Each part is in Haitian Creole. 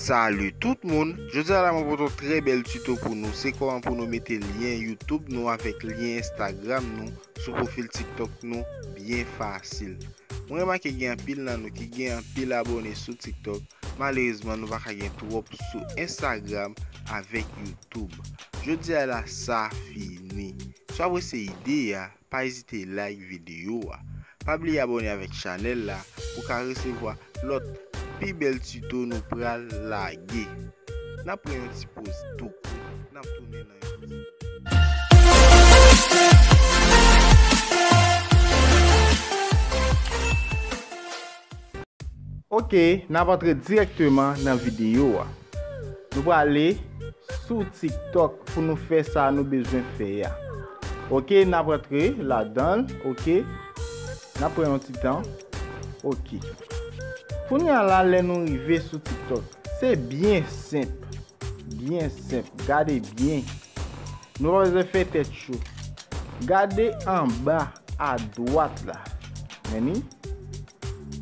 Salut tout moun, jodi a la mwen pote yon trè bèl tuto pou nou, se koman pou nou mete lyen YouTube nou avèk lyen Instagram nou sou profil TikTok nou byen fasil. Mwen remake gen anpil nan nou ki gen anpil abone sou TikTok, malerezman nou pa ka gen twòp sou Instagram avèk YouTube. Toub. Jodi a la sa fini. Si w apresye ide a, pa ezite like video a. Pa bliye abone avèk chanèl la pou ka resevwa lòt pi bèl tuto nou pral lage. Nap pran yon ti poz tou kou, nap tounen nan yon ti moman. Ok nap antre direkteman nan video a. Nou prale sou tiktok pou nou fè sa nou bezwen fè a. Ok nap antre ladanl ok. Nap pran yon ti tan ok. Kounya la lè nou rive sou tiktok. Se byen senp. Byen senp gade byen. Nou pa bezwen fè tèt cho. Gade anba a dwat la. Meni.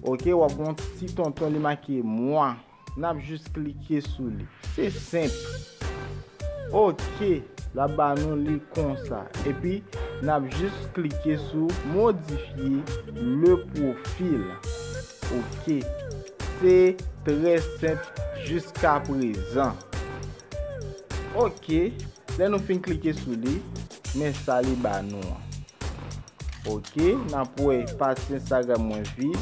Ok wap gon ti tonton li make mwa nap jis klike sou li se senp ok lap ba nou li konsa epi nap jis klike sou modifye le profil ok se trè senp jiska prezan ok lè nou fin klike sou li men sa li ba nou an. Ok nap wè pati Instagram mwen vid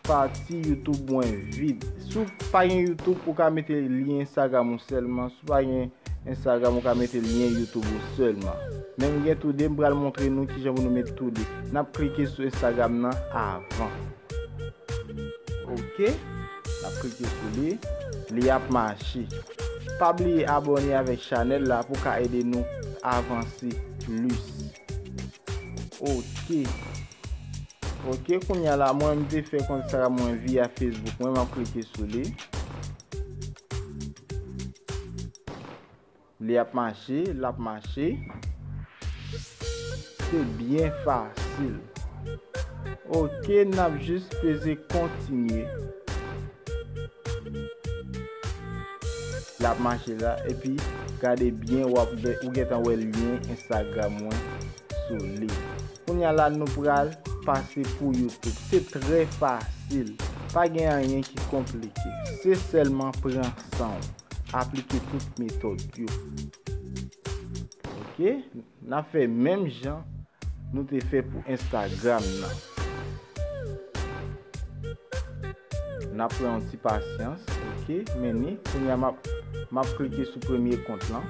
pati YouTube mwen vid si w pa gen YouTube ou ka mete lyen Instagram ou sèlman si w pa gen Instagram ou ka mete lyen YouTube ou sèlman men m gen tou 2 m pral montre nou kijan pou nou met tou 2 nap klike sou Instagram nan avan ok nap klike sou li li ap mache pa bliye abòne avèk chanèl la pou w ka ede nou avanse plis. Ok Ok kounya la mwen m te fè kontra mwen via Facebook mwen map klike sou li Li ap mache, lap mache Se byen fasil Ok nap jis peze kontinye Lap mache la epi gade byen wap wè ou gentan wè lyen Instagram mwen sou li. Kounya la nou pral pase pou YouTube. Se trè fasil. Pa gen anyen ki konplike. Se sèlman pran sanw. Aplike tout metòd yo. Ok. Nap fè menm jan nou te fè pou Instagram nan. Nap pran yon ti pasyans ok meni kounya map map klike sou premye kont lan.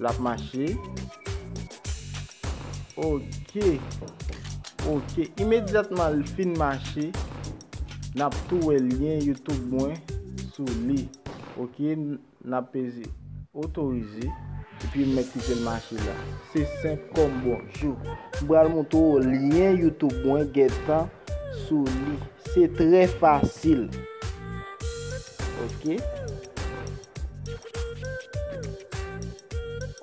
Lap mache Ok Ok Imedyatman l fin mache Nap tou wè lyen youtube mwen sou li Ok Nap peze otorize Epi m mèt kite l mache la Se senp kòm bonjou M pral moutre w lyen youtube mwen gentan sou li. Se trè fasil. Ok.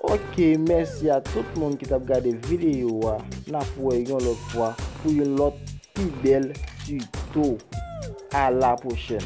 Ok, mèsi a tout moun ki t ap gade videyo a. N ap wè yon lòt fwa pou yon lòt pi bèl tuto. A la pwochèn.